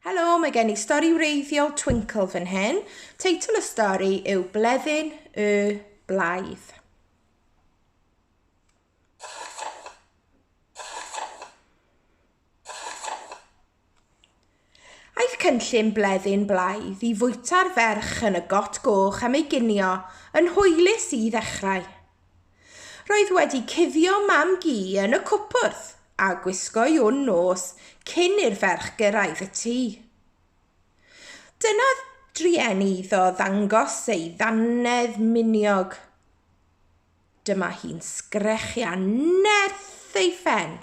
Helo, mae gen i stori wreiddiol Twinkle fan hyn. Teitl y stori yw Bleddyn y Blaidd. Aeth cynllun bleddyn blaidd i fwyta'r ferch yn y got goch am ei ginio yn hwylus i ddechrau. Roedd wedi cuddio mam-gu yn y cwpwrdd a gwisgo'i wn nos cyn i'r ferch gyrraedd y tŷ. Dynadd drueni iddo ddangos ei ddannedd miniog. Dyma hi'n sgrechian nerth ei phen,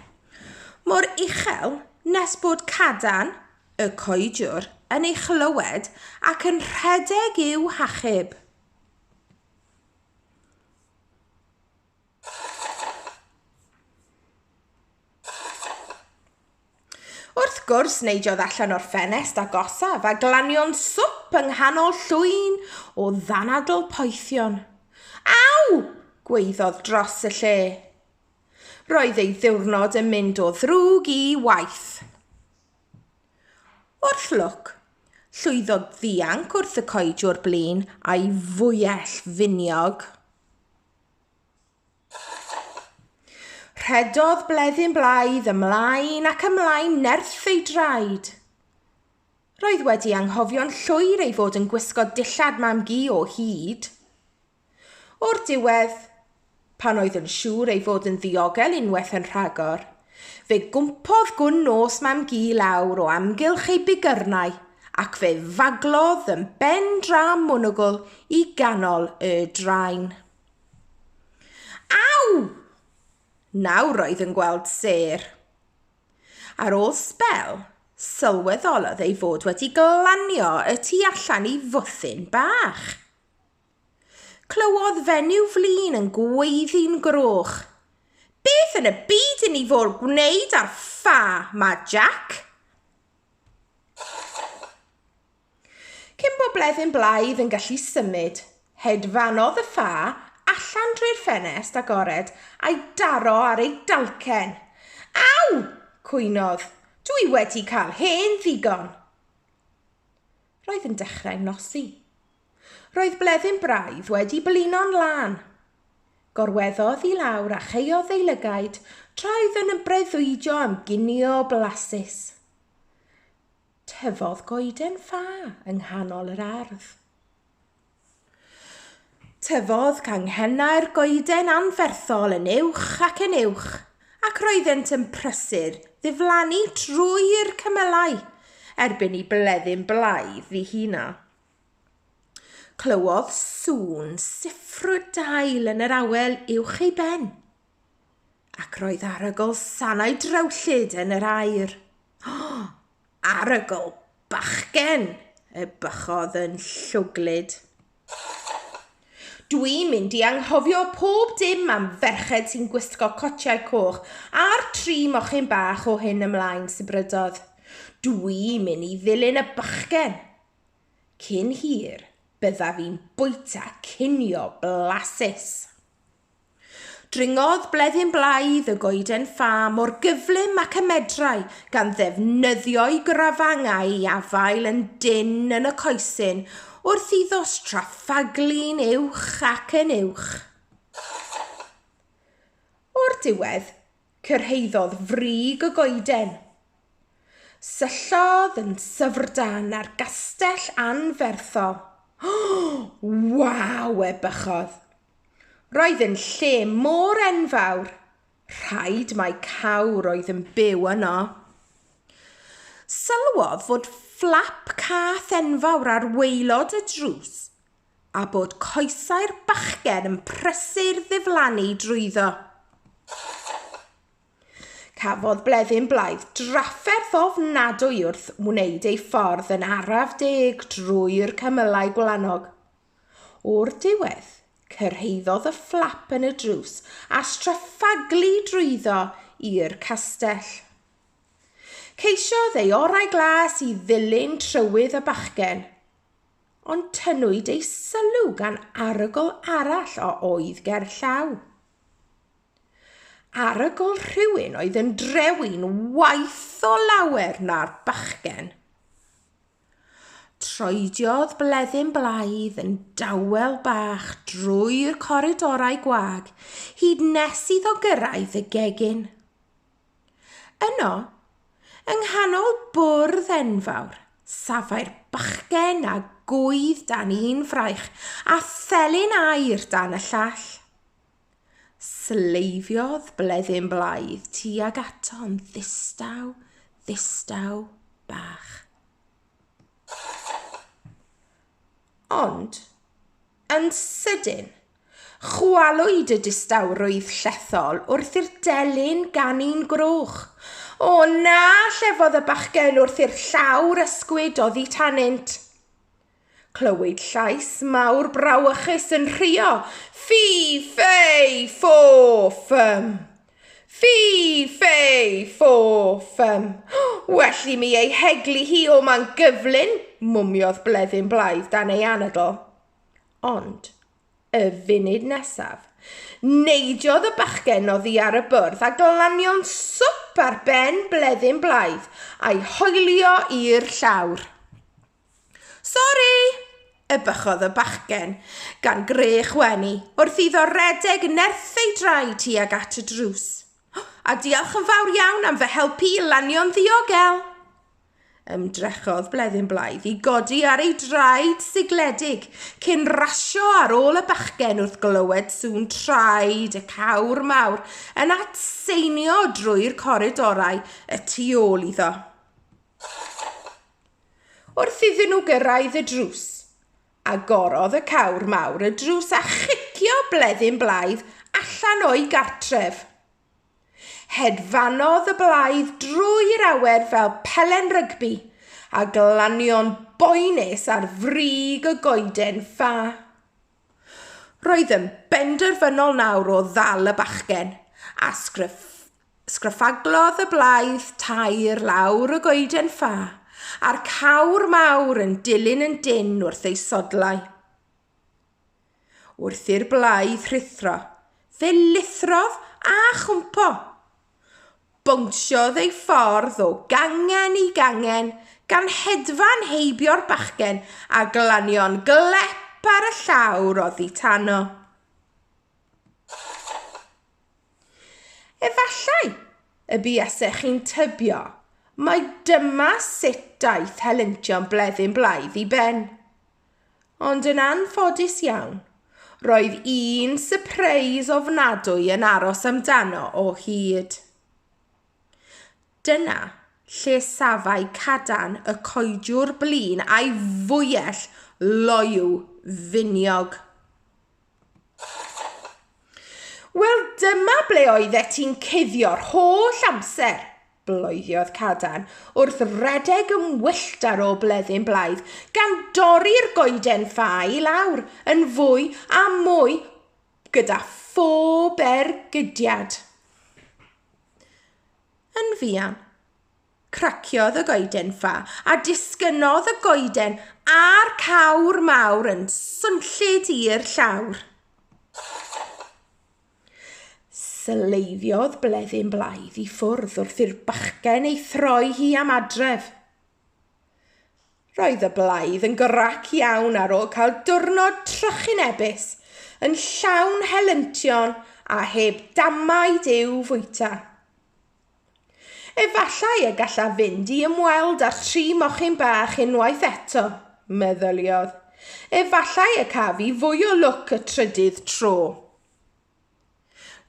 mor uchel nes bod cadarn y coediwr yn ei chlywed ac yn rhedeg i'w hachub. Wrth gwrs, neidiodd allan o'r ffenest agosaf a glanio'n swp yng nghanol llwyn o ddanadl poethion. Aw! gweiddodd dros y lle. Roedd ei ddiwrnod yn mynd o ddrwg i waeth. Wrth lwc, llwyddodd ddianc wrth y coed o'r blaen a'i fwyell finiog. Rhedodd Bleddyn Blaidd ymlaen ac ymlaen nerth ei draed. Roedd wedi anghofio'n llwyr ei fod yn gwisgo dillad mam-gu o hyd. O'r diwedd, pan oedd yn siŵr ei fod yn ddiogel unwaith yn rhagor, fe gwmpodd gwn nos mam-gu lawr o amgylch ei bigyrnau ac fe faglodd yn ben dra monwgl i ganol y drain. Aw! Nawr roedd yn gweld sêr. Ar ôl sbel, sylweddolodd ei fod wedi glanio y tu allan i fwthyn bach. Clywodd fenyw flin yn gweiddi'n groch, Beth yn y byd i ni fôl gwneud â'r ffa 'ma, Jac? Cyn bo blethyn blaidd yn gallu symud, hedfanodd y ffa allan drwy'r ffenest agored a'i daro ar ei dalcen. Aw! cwynodd, Dwi wedi cael hen ddigon! Roedd yn dechrau nosi. Roedd bleddyn braidd wedi blino'n lân. Gorweddodd i lawr a chaeodd ei lygaid tra oedd yn ymbreuddwydio am ginio blasus. Tyfodd goeden ffa yng nghanol yr ardd. Tyfodd canghennau'r goeden anferthol yn uwch ac yn uwch, ac roeddent yn prysur ddiflannu trwy'r cymylau erbyn i bleddyn blaidd ddihuna. Clywodd sŵn siffrwd dail yn yr awel uwch ei ben, ac roedd arogl sanau drewllyd yn yr aer. Arogl bachgen! y bychodd yn llwglyd. Dwi'n mynd i anghofio pob dim am ferched sy'n gwisgo cotiau coch a'r tri mochyn bach o hyn ymlaen, sibrydodd. Dwi'n mynd i ddilyn y bachgen! Cyn hir, byddaf i'n bwyta cinio blasus! Dringodd Bleddyn Blaidd y goeden ffa mor gyflym ac y medrai, gan ddefnyddio'i grafangau i afael yn dynn yn y coesyn wrth iddo straffaglu'n uwch ac yn uwch. O'r diwedd, cyrhaeddodd frig y goeden. Syllodd yn syfrdan ar gastell anferthol. O! Waw! ebychodd. Roedd yn lle mor enfawr, rhaid mai cawr oedd yn byw yno. Sylwodd fod fflap cath enfawr ar waelod y drws a bod coesau'r bachgen yn prysur ddiflannu drwyddo. Cafodd Bleddyn Blaidd drafferth ofnadwy wrth wneud ei ffordd yn araf deg drwy'r cymylau gwlanog. O'r diwedd, cyrhaeddodd y fflap yn y drws a straffaglu drwyddo i'r castell. Ceisiodd ei orau glas i ddilyn trywydd y bachgen, ond tynnwyd ei sylw gan arogl arall a oedd ger llaw. Arogl rhywun oedd yn drewin waith o lawer na'r bachgen. Troediodd Bleddyn Blaidd yn dawel bach drwy'r coridorau gwag hyd nes iddo gyrraedd y gegin. Yno, yng nghanol bwrdd enfawr, safai'r bachgen a gŵydd dan un fraich a thelyn aer dan y llall. Sleifiodd Bleddyn Blaidd tuag ato'n ddistaw, ddistaw bach. Ond, yn sydyn, chwalwyd y distawrwydd llethol wrth i'r delyn ganu'n groch. O na, llefodd y bachgen wrth i'r llawr ysgwyd oddi tanynt. Clywyd llais mawr brawychus yn rhuo, Ffi, ffei, ffo, ffym! Ffi, ffei, ffo, ffym! Well i mi ei heglu hi o man gyflyn, mwmiodd Bleddyn Blaidd dan ei anadl. Ond y funud nesaf. Neidiodd y bachgen oddi ar y bwrdd a glanio'n swp ar ben Bleddyn Blaidd a'i hoelio i'r llawr. Sori! ebychodd y bachgen, gan greu chwenu, wrth iddo redeg nerth ei draed tuag at y drws. A diolch yn fawr iawn am fy helpu i lanio'n ddiogel! Ymdrechodd Bleddyn Blaidd i godi ar ei draed sigledig cyn rasio ar ôl y bachgen wrth glywed sŵn traed y cawr mawr yn atseinio drwy'r coridorau y tu ôl iddo. Wrth iddyn nhw gyrraedd y drws, agorodd y cawr mawr y drws a chicio Bleddyn Blaidd allan o'i gartref. Hedfanodd y blaidd drwy'r awer fel pelen rygbi a glanio'n boenus ar frig y goeden ffa. Roedd yn benderfynol nawr o ddal y bachgen a sgryff Sgrafaglodd y blaidd tair lawr y goeden ffa, a'r cawr mawr yn dilyn yn dynn wrth ei sodlau. Wrth i'r blaidd rhuthro, fe lithrodd a chwmpo. Bownsiodd ei ffordd o gangen i gangen, gan hedfan heibio'r bachgen a glanio'n glep ar y llawr oddi tano. Efallai y buasech chi'n tybio mai dyma sut daeth helyntion Bleddyn Blaidd i ben. Ond yn anffodus iawn, roedd un sypreis ofnadwy yn aros amdano o hyd. Dyna lle safai cadarn y coediwr blin a'i fwyell loyw finiog. Wel, dyma ble oeddet ti'n cuddio'r holl amser, bloediodd Cadarn, wrth redeg yn wyllt ar ôl bleddyn blaidd, gan dorri'r goeden ffa i lawr yn fwy a mwy gyda phob ergydiad. Yn fuan, Craciodd y goeden ffa, a disgynnodd y goeden a'r cawr mawr yn swnllyd i'r llawr. Sleiddiodd Bleddyn Blaidd i ffwrdd wrth i'r bachgen ei throi hi am adref. Roedd y blaidd yn grac iawn ar ôl cael diwrnod trychinebus, yn llawn helyntion a heb damaid i'w fwyta. Efallai y gallaf fynd i ymweld â'r tri mochyn bach unwaith eto, meddyliodd. Efallai y caf i fwy o lwc y trydydd tro.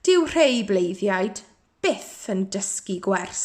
Dyw rhei bleiddiaid byth yn dysgu gwers.